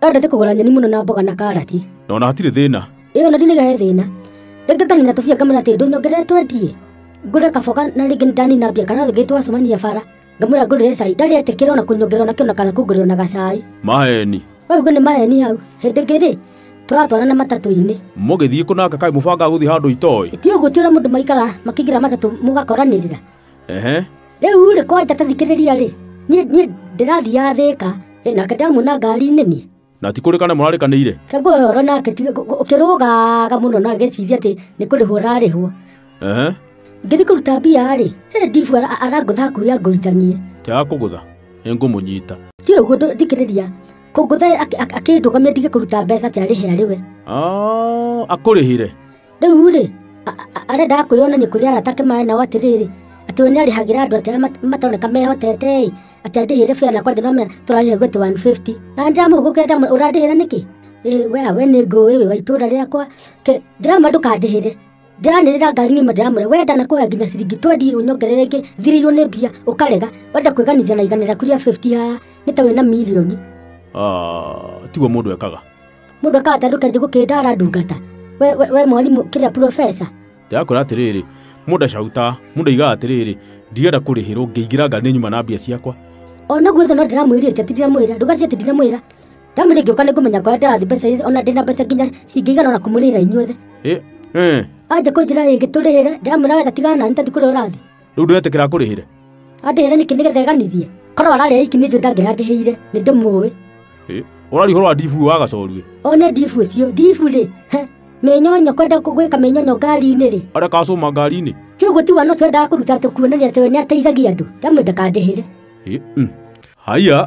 Endete kũgũra nyeni mũno na mboga na karati. Na ona hatirĩ thĩna. Ĩyo na ndinĩga he thĩna. Rĩngĩ nganina tũbia ngamwĩra atĩ ndũnyongerere twendie. Ngũre kaboga na rĩngĩ ndanina mbia kana rĩngĩ twacemania bara. Ngamwĩra ngũrĩre cai ndarĩ etĩkĩra ona kũnyongerera ona kĩona kana kũngũrĩra ona gacai. Maheni. Wee uge nĩ maheni hau. Hĩndĩ ĩngĩ rĩ, tũratwarana matatũ-inĩ. Mũgĩthiĩ kũnanga kaĩ mũbangaga gũthiĩ handũ itoĩ. Ti ũguo ti ũrĩa mũndũ maikara makĩingĩra matatũ mũgakoranĩrĩra. ehe rĩu rĩ kwanja tathikĩrĩria rĩ niĩ niĩ ndĩrathiaga thĩka ĩ, nake ndamuona ngari-inĩ niĩ na ti kũrĩ kana mũrarĩkanĩire kagua ũhoro nake ti- gu- gu- ũkĩrũgaga mũno na gĩciria atĩ nĩ kũrĩhwo ararĩhwo ehe ngĩthiĩ kũruta mbia rĩ hĩndĩ ndibu ara- arangũtha kuya ngũithanie tiaga kũgũtha nĩngũmũnyita ti ũguo ndũ- thikĩrĩria kũngũtha akĩndũgamia ndige kũruta mbeca atĩ arĩhe arĩ we Ah, akũrĩhĩre rĩu rĩ arĩa ndakwĩyonania kũrĩ arata ake maĩ nao atĩrĩrĩ atĩ we nĩarĩhagĩra andũ atĩ arĩa mat- matoneka mehotete ĩ atĩ andĩhĩre bĩa nakwa ndĩnomenya tũrarĩhe gwĩtĩ 150 na ndĩramũhũgũkĩra ndamwĩra ũrandĩhĩra nĩkĩ ĩ we we nĩ ngũĩ wĩ wa itũũra rĩakwa Ke- ndĩramwĩra ndũkandĩhĩre ndĩranĩrĩra ngari ng'ima ndĩramwĩra we ndanakũhe nginya ciringi twendi ũnyongerere ĩngĩ thirĩirwo nĩ mbia ũkarega wenda kwĩganithia na igana rĩaku rĩa 50 haa nĩ ta wĩna milioni Ah, tiguo mũndũ ekaga mũndũ akahota ndũkenje gũkĩndara ndungata we, we, we mwarimũ kĩrĩa profesa ndĩrakwĩra atĩrĩrĩ mũndũ acauta mũndũ aigaga atĩrĩrĩ ndigenda kũrĩhĩrwo ngĩingĩra ngari nyuma na mbia ciakwa ona gwetha no ndĩramwĩrĩte ti ndiramwĩra ndũgacie ti ndiramwĩra ndamwĩra ngĩũka nĩngũmenya kũrĩa ndĩrathi mbeca ici, ona ndĩna mbeca nginya cingĩigana ona kũmũrĩra inyuothe Ĩ, ĩ, anja kũnjĩra rĩngĩ tũrĩhĩre ndĩramwĩra wetha tigana nani tathi kũrĩa ũrathi rĩu ndũretĩkĩra akũrĩhĩre andĩhĩre nĩkĩ nĩgetha ĩganithie korwo ararĩa iki nĩ njũ ndangĩra ndĩhĩire nĩ ndĩmũĩ Ĩ, ũrarihũrwo ndibu wa gacoruĩ one ndibu ũcio ndibu rĩ he, mĩnyonyo kwenda gwĩka mĩnyonyo ngari-inĩ rĩ arĩa kacũma ngari-inĩ kĩu gũtiwa no twendaga kũruta tũkuonania atĩ we nĩ ateithagia andũ ndamwenda kandĩhĩre Ĩ, mm. haiya